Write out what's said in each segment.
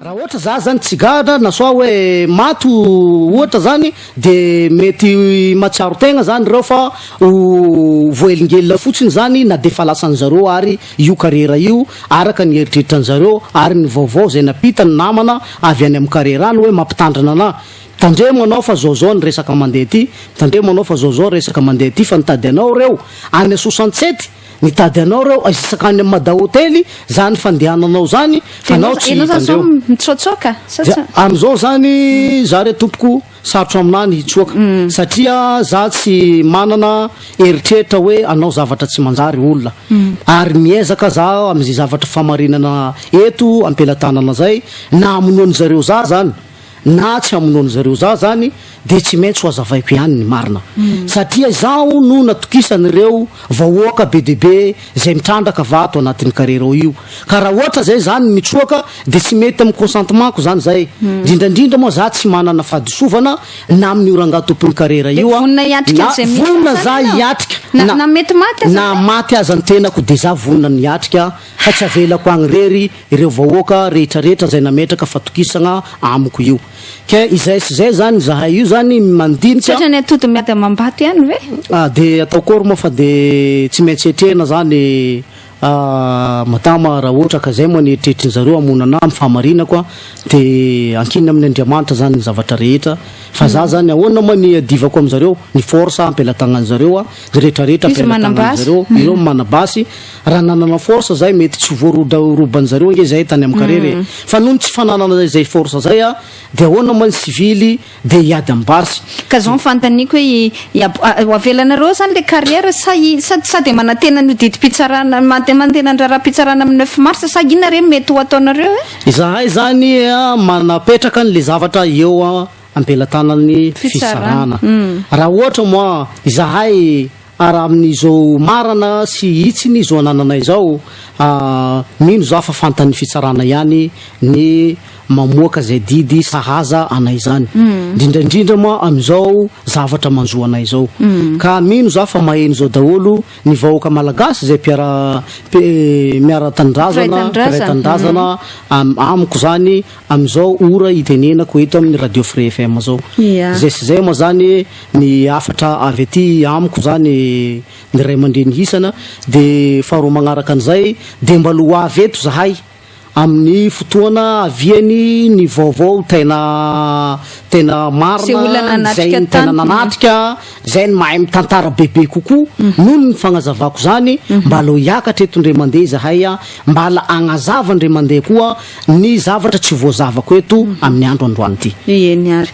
Raha ohatra za zany tsy gadra na soit hoe maty ohatra zany de mety mahatsiaro tegna zany reo fa ho voahelingelina fotsiny zany na de efa lasan'ny zareo ary io karera io araka ny eritreritran'ny zareo ary ny vaovao zay nampita ny namana avy any amin'ny karera any hoe mampitandrina anah Tandremo anao fa zao zao ny resaka mandeha aty, tandremo anao fa zao zao resaka mandeha aty fa nitady anao reo any Asosansety, nitady anao reo aizisak any am Mada Hotely zany fandehananao zany fa anao tsy hita andreo. Dia amizao zany za re tompoko sarotra aminah ny hitsoaka satria za tsy manana eritreritra hoe anao zavatra tsy manjary olona ary miezaka za amze zavatra famarinana eto ampelatanana zay na amonoan zareo za zany Na tsy hamonoan-dry zareo za zany dia tsy maintsy ho azavaiko ihany ny marina. Satria izaho no natokisan' ireo vahoaka be dia be izay mitrandraka vato anatin'ny carrière ao io. Ka raha ohatra izay zany mitsoaka dia tsy mety amin'ny consentement-ko zany izay. Indrindra indrindra moa za tsy manana fadisovana na amin'io rangahy tompon'ny carrière io aho. Vonona hiatrika Na an'izay misy vonona aza za ianao. hiatrika Na- na mety maty aza na ianao. maty aza ny tenako dia za vonona ny hiatrika fa tsy avelako agny rery ireo vahoaka rehetra rehetra zay nametraka fatokisagna amiko io ke izay sy zay zany zahay io zany mandinika Tratran'ny atody miady amam-bato ihany ve? Ah de atao akory moa fa de tsy maintsy hetrena zany ah madama raha ohatra ka zay moa ny eritreritrin'ny zareo hamono anah amin'ny fahamarinako ah de ankina amin'ny Andriamanitra zany ny zavatra rehetra fa zah zany ahoana moa ny iadivako amin'izareo ny force ampelatagnan'izareo ah ny rehetra rehetra ampelatagnan'izareo ireo manabasy Raha nanana force zay mety tsy voarodaoroban zareo ange zay tany am karera e. Fa nony tsy fananana izay force zay a de ahoana moa ny sivily de hiady am basy. Ka zao ny fantaniko hoe i ab ho avelanareo ao zany le carrière sa i sa sa de manantena an'io didim-pitsarana mande mantena ny raharaham-pitsarana am neuf mars sa inona re mety ho ataonareo e? Izahay zany a manapetraka an le zavatra eo am pelatanan'ny fitsarana. Raha ohatra moa izahay Ary amin'izao marana sy hitsiny izao anananay izao, mino izaho fa fantan'ny fitsarana ihany ny mamoaka izay didy sahaza anay izany, indrindra indrindra moa amin'izao zavatra manjo anay izao. Ka mino izaho fa maheno izao daholo ny vahoaka malagasy izay mpiara-miara-tanindrazana, mpiray tanindrazana amiko izany. Amin'izao ora itenenako eto amin'ny Radio Free FM zao. Izay sy izay moa zany ny hafatra avy aty amiko zany ny ray aman-dreny hisana dia faharoa magnaraka an'izay dia mba ho avy eto zahay amin'ny fotoana aviany ny vaovao tena tena marina izay ny tena nanatrika izay ny mahay mitantara bebe kokoa mhm. noho ny fagnazavako zany mhm. mba lo hiakatra eto ndray mandeha zahay mba la agnazava ndray mandeha koa Ny zavatra tsy voazavako eto amin'ny andro androany ity. Eny ary.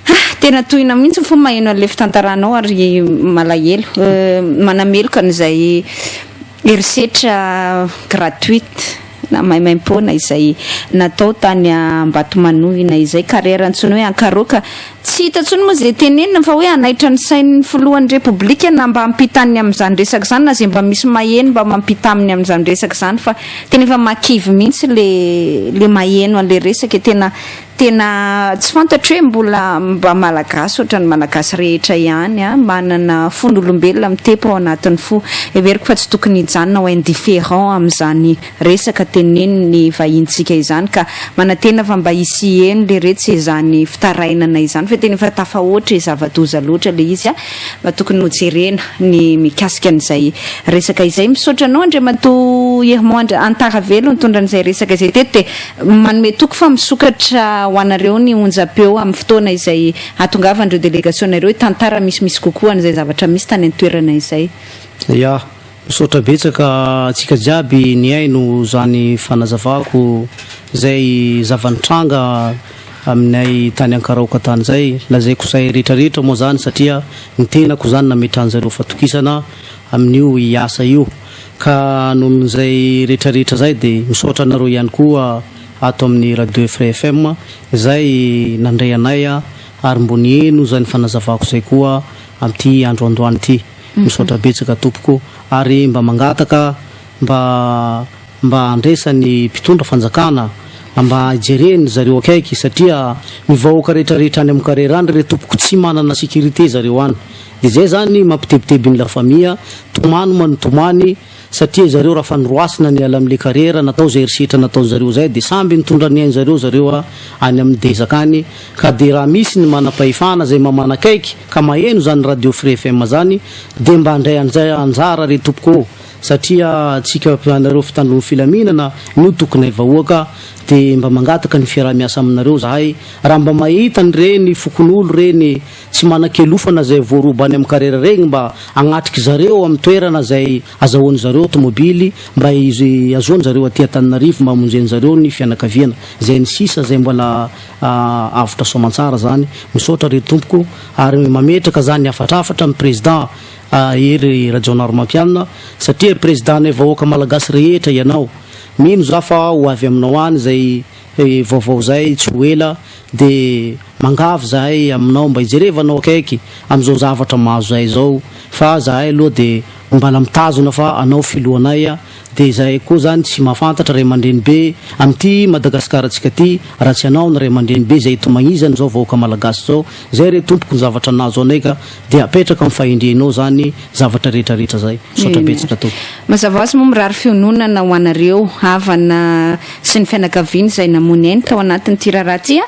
Ah, tena tohina mihitsy ny fo maheno an'ilay fitantaranao ary malahelo. Manameloka an'izay herisetra gratuite na maimaim-poana izay natao tany Ambatomanohina izay, carrière antsoina hoe Ankaroaka Tsy hita intsony moa izay tenenina fa hoe hanaitra ny sain'ny filohan'ny Repoblika na mba hampita an'ny amin'izany resaka izany na izay mba misy maheno mba mampita aminy amin'izany resaka izany fa tena efa mahakivy mihitsy le le maheno an'ilay resaka e! tena tena tsy fantatro hoe mbola mba malagasy ohatran'ny malagasy rehetra ihany an! manana fon'olombelona mitepo ao anatin'ny fo! heveriko fa tsy tokony hijanona ho indifférent amin'izany resaka teneniny ny vahintsika izany ka manantena fa mba hisieny le retsy izany fitarainana izany fa tena efa tafahoatra e zavadoza loatra le izy a mba tokony hojerena ny mikasika an'izay resaka izay misaotra anao Andriamatoa Irmond Antaravelo nitondra an'izay resaka izay teto dia manome toky fa misokatra ho anareo ny onjam-peo amin'ny fotoana izay hatongavan'ireo delegasiona ireo hitantara misimisy kokoa an'izay zavatra misy tany an-toerana izay. Ya. Misaotra betsaka antsika jiaby nihaino zany fanazavako zay zava-nitranga aminay tany Ankaraoka tany zay. Lazaiko zay rehetra rehetra moa zany satria ny tenako zany nametrahan zareo fatokisana amin'io hiasa io. Ka nohon zay rehetra rehetra zay de misaotra anareo ihany koa ato amin'ny Radio Frais FM zay nandray anay ary mbo niheno zany fanazavako zay koa amin'ity andro andoany ity. Misaotra betsaka tompoko ary mba mangataka mba mba andraisan'ny mpitondra fanjakana mba hijereny zareo akaiky satria ny vahoaka rehetra rehetra any amin'ny karera any re tompoko tsy manana sécurité zareo any de zay zany mampitebiteby ny la famille tomany man tomany Satria zareo raha fanoroasina niala am le karera natao zay herisetra nataon zareo zay de samby nitondra ny ain zareo zareo a any aminy dezaka any ka de raha misy ny manapahefana zay mamanakaiky ka maheno zany radio fre FM zany de mba ndray anjay anjara re tompoko ô satria tsika anareo fitandron filaminana no tokonay vahoaka de mba mangataka ny fiaraha miasa aminareo zahay raha mba mahita ny reny fokonolo reny tsy manan-kialofana izay voaroba any amin'ny karera regny mba hagnatrika zareo amin'ny toerana izay azahoan'ny zareo tômôbily mba hiazoan'ny zareo aty Antananarivo mba hamonjen'ny zareo ny fianakaviana izay ny sisa izay mbola avotra soamantsara zany misaotra re tompoko ary mametraka zany hafatrafatra amin'ny président Hery Rajaonarimampianina satria président-nay vahoaka malagasy rehetra ianao mino za fa ho avy aminao any izay vaovao izay tsy ho ela dia mangavy izahay aminao mba hijerevanao akaiky amin'izao zavatra mahazo izahay izao fa izahay aloha dia mbala mitazona fa anao filohanay dia izahay koa izany tsy mahafantatra ray aman-dreny be amin'ity Madagasikarantsika ity raha tsy anao ny ray aman-dreny be izay itomagizany izao vahoaka malagasy izao izay re tompoko ny zavatra nahazo anay ka Dia apetraka amin'ny fahendrenao izany zavatra rehetra rehetra izay. Misaotra betsaka Tompo. Mazava ho azy moa mirary fiononana ho anareo havana sy ny fianakaviana izay namoy ny ainy tao anatin'ity raharaha ity a!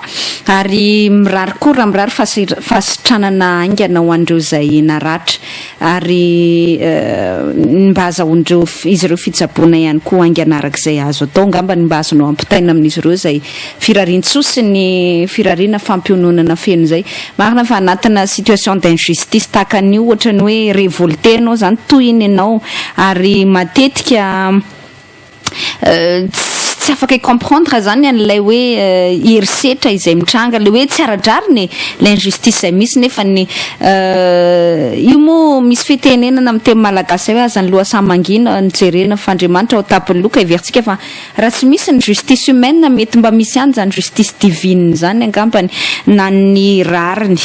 ary mirary koa raha mirary fahasira- fahasitranana haingana ho an'ireo izay naratra ary ny mba hazahoan'ireo izy ireo fitsaboana ihany koa haingana araka izay azo atao angamba ny mba azonao ampitaina amin'izy ireo izay Firariantsoa sy ny firariana fampiononana feno izay. Marina fa anatina situation d'injustice tahaka an'io ohatran'ny hoe revolte ianao izany, tohina ianao ary matetika tsy afaka hi-comprendre izany an'ilay hoe herisetra izay mitranga, ilay hoe tsy ara-drariny e! Ilay injustice izay misy nefa ny io moa misy fitenenana amin'ny teny malagasy izay hoe aza ny loha samy mangina no jerena fa Andriamanitra ao an-tampon'ny loka heverintsika fa Raha tsy misy ny justice humaine mety mba misy ihany izany justice divine izany angambany na ny rariny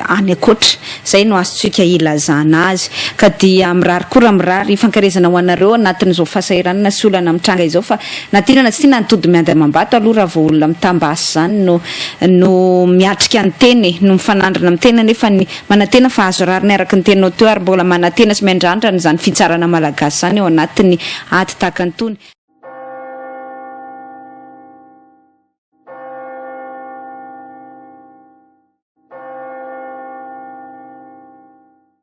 any ankoatra. Izay no azontsika ilazana azy. Ka dia mirary koa raha mirary fankaherezana ho anareo anatin'izao fahasahiranana sy olana mitranga izao fa na tiana na tsy tiana ny tody miady amam-bato aloha raha vao olona mitam-basy izany no no miatrika ny tena e. No mifanandrina amin'ny tena nefa ny Manantena fa azo rariny araka ny teninao teo ary mbola manantena sy miandrandra an'izany fitsarana malagasy izany ao anatin'ny ady tahaka an'itony.